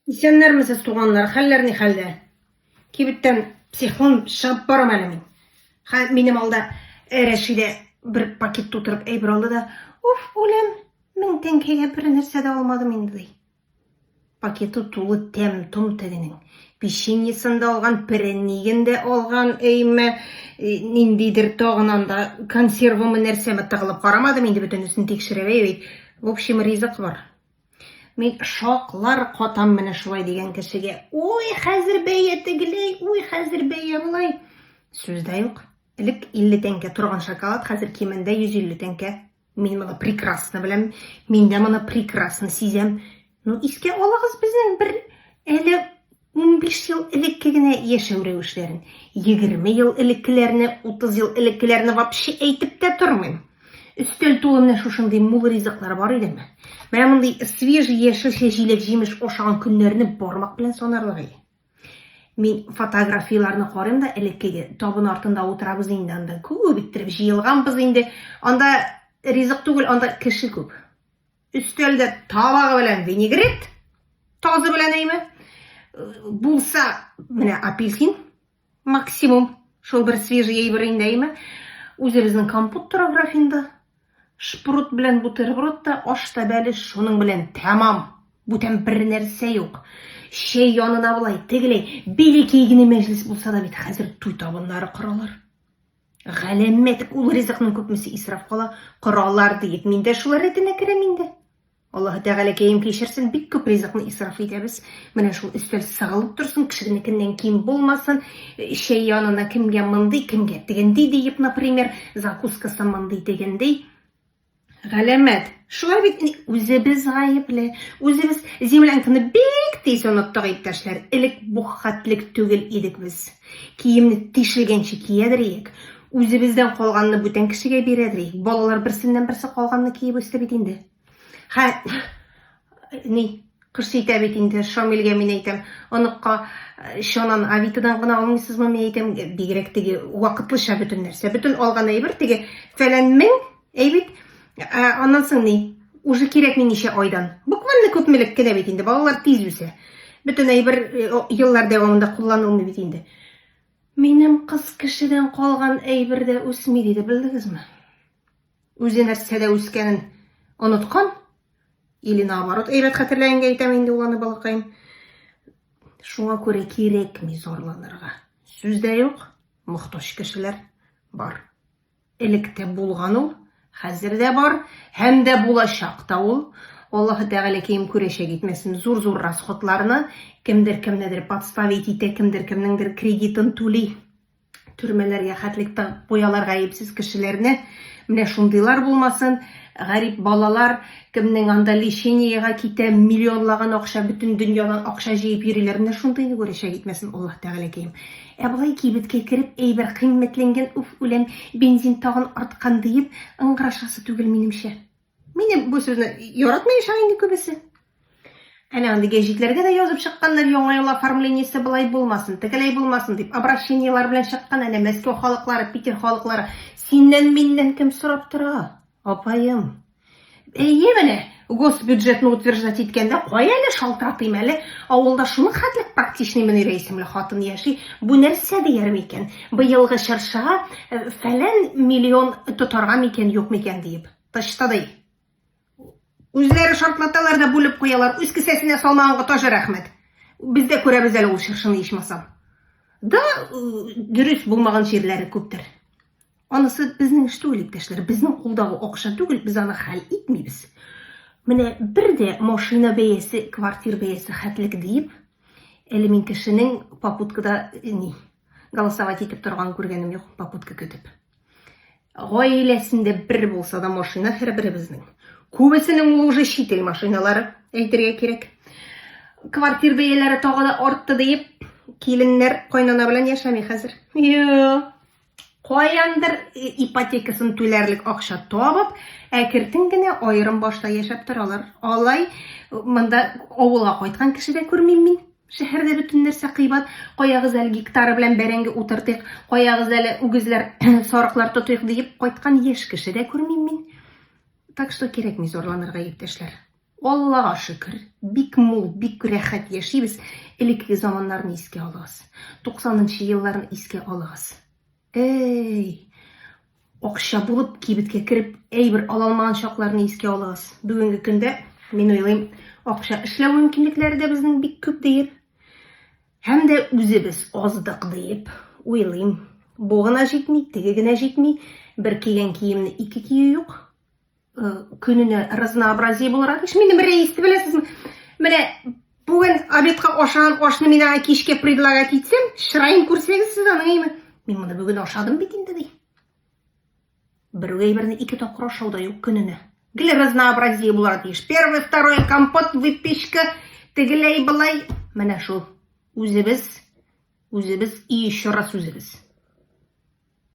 Исәннәрмесез, туганнар, хәлләр ни хәлдә? Кибеттән психун чыгып барам әле мин. Хә, минем алда э, Рәшидә бер пакет тутырып әйбер алды да, уф, үлем, мең тәңкәгә бер нәрсә дә алмадым инде ди. Пакеты тулы тәм, том тегенең. Печеньесын да алган, перенигын дә алган, әйме, э, ниндидер тагын анда консервымы нәрсәме тыгылып карамадым инде бөтенесен тикшерәбәй бит. В общем, ризык бар. Мин шаклар катам менә шулай дигән кешегә. Уй, хәзер бәя тегеләй, уй, хәзер бәя болай. Сүз дә юк. Элек 50 тәңкә торган шоколад хәзер кимендә 150 тәңкә. Мин моны прекрасно беләм. Мин дә моны прекрасно сизәм. Ну, искә алыгыз безнең бер әле Унбиш ел элекке генә яшәү рәвешләрен, егерме ел элеккеләрне, утыз ел элеккеләрне вообще әйтеп тә тормыйм. Өстәл тулы менә шушындый мул ризыклар бар идеме? Менә мондый свежий яшелчә җиләк-җимеш ашаган көннәрне бармак белән санарлык иде. Мин фотографияләрне карыйм да элеккеге табын артында утырабыз инде анда. Күп иттереп җыелганбыз инде. Анда ризык түгел, анда кеше күп. Өстәлдә табагы белән винегрет, тазы белән әйме, булса, менә апельсин максимум, шул бер свежий әйбер инде әйме. Үзебезнең компот тора графинда. Шпрут белән бутерброд та, аш та бәлеш шуның белән тәмам. Бүтән бер нәрсә юк. Чәй янына болай, тегеләй, бәләкәй генә мәҗлес булса да бит хәзер туй табыннары коралар. Галәмәт ул ризыкның күпмесе исраф кала, коралар диеп, мин дә шулар рәтенә керәм инде. Аллаһ Тәгалә кәем кешерсен, бик күп ризыкны исраф итәбез. Менә шул өстәл сыгылып торсын, кешенекеннән ким булмасын. Чәй янына кемгә мондый, кемгә тегенди диеп, например, закускасы мондый, тегенди. Галәмәт. Шулай бит ни, үзебез гаепле. Үзебез землянканы бик тиз оныттык, иптәшләр. Элек бу хәтлек түгел идек без. Киемне тишелгәнче киядер иек. Үзебездән калганны бүтән кешегә бирәдер иек. Балалар берсеннән-берсе калганны киеп үсте бит инде. Хә, Ни, кыш җитә бит инде, Шамилгә мин әйтәм, оныкка э, чанан авитадан гына алмыйсызмы, мин әйтәм, бигрәк теге вакытлыча бөтен нәрсә. Бөтен алган әйбер теге фәлән мең, әйбит. Ә, аннан соң ни? Уже кирәкми ничә айдан. Буквально күпмелек кенә бит инде, балалар тиз үсә. Бөтен әйбер э, еллар дәвамында кулланылмый бит инде. Минем кыз кешедән калган әйбер дә үсми, диде, белдегезме? Үзе нәрсәдә үскәнен оныткан, или наоборот, әйбәт хәтерләгәнгә әйтәм инде ул аны балакаем. Шуңа күрә кирәкми зарланырга. Сүз дә юк, мохтаҗ кешеләр бар. Элек тә булган ул, хәзер дә бар һәм дә булачак та ул. Аллаһы Тәгалә кем күрәчәк итмәсен, зур-зур расходларны кемдер кемнедер подставить итә, кемдер кемнеңдер кредитын түли. Төрмәләргә хәтлек тагып куялар гаепсез кешеләрне. Менә шундыйлар булмасын. Гарип балалар, кемнең анда лечениегә китә, миллионлаган акча, бөтен дөньядан акча җыеп йөриләр. Менә шундыйны күрәчәк итмәсен Аллаһ Тәгаләкәем. Ә болай кибеткә кереп, әйбер кыйммәтләнгән, уф, үләм, бензин тагын арткан, диеп, ыңгырашасы түгел, минемчә. Мине бу сүзне яратмый ишан инде күбесе. Әнә андый гәҗитләргә дә язып чыкканнар, яңа ел оформлениесе былай булмасын, тегеләй булмасын дип, обращениелар белән чыккан әнә Мәскәү халыклары, Питер халыклары. Синнән миннән кем сорап тора? Апаем. Әйе менә, госбюджетны утверждать иткәндә кая әле шалтыратыйм әле, авылда шуның хәтлек практичный Мөнирә исемле хатын яши. Бу нәрсә дияр микән? Быелгы чыршыга э, фәлән миллион тотарга микән, юк микән диеп. Тышта ди. Үзләре шартлаталар да бүлеп куялар. Үз кесәсенә салмаганга тажы рәхмәт. Без дә күрәбез әле ул чыршыны ичмасам. Да дөрес булмаган җирләре күптер. Анысы безнең эш түгел, иптәшләр. Безнең кулдагы акча түгел, без аны хәл итмибез. Менә бер дә машина бәясе, квартир бәясе хәтлек диеп, әле мин кешенең попуткада ни, голосовать итеп торган күргәнем юк, попутка көтеп. Гаиләсендә бер булса да машина һәрберебезнең. Күбесенең ул уже чит ил машиналары, әйтергә кирәк. Квартир бәяләре тагы да артты диеп, киленнәр кайнана белән яшәми хәзер. Йоо. Каяндыр ипотекасын түләрлек акча табып, әкертен генә аерым башта яшәп торалар. Алай монда авылга кайткан кеше дә күрмим мин. Шәһәрдә бөтен нәрсә кыйбат. Каягыз әле гектары белән бәрәңге утыртыйк, каягыз әле үгезләр, сарыклар тотыйк диеп кайткан яшь кеше дә күрмим мин. Так что кирәкми зарланырга, иптәшләр. Аллага шөкер, бик мул, бик рәхәт яшибез. Элекке заманнарны искә алыгыз. 90 нчы елларны искә алыгыз. Әй! Акча булып кибеткә кереп, әйбер ала алмаган чакларны искә алыгыз. Бүгенге көндә, мин уйлыйм, акча эшләү мөмкинлекләре дә безнең бик күп диеп, һәм дә үзебез аздык диеп уйлыйм. Бу гына җитми, теге генә җитми, бер кигән киемне ике кию юк. көненә разнообразие буларак эш. Минем рейс беләсезме? Менә бүген обедка ашаган ашны мин аңа кичкә предлагать итсәм, чыраен күрсәгез сез аның әйме. Мин моны бүген ашадым бит инде ди. Бер әйберне ике тапкыр ашау да юк көненә. Гел разнообразие буларак тиеш. Первый, второй компот, выпечка, тегеләй былай. Менә шул. Үзебез, үзебез и еще раз үзебез.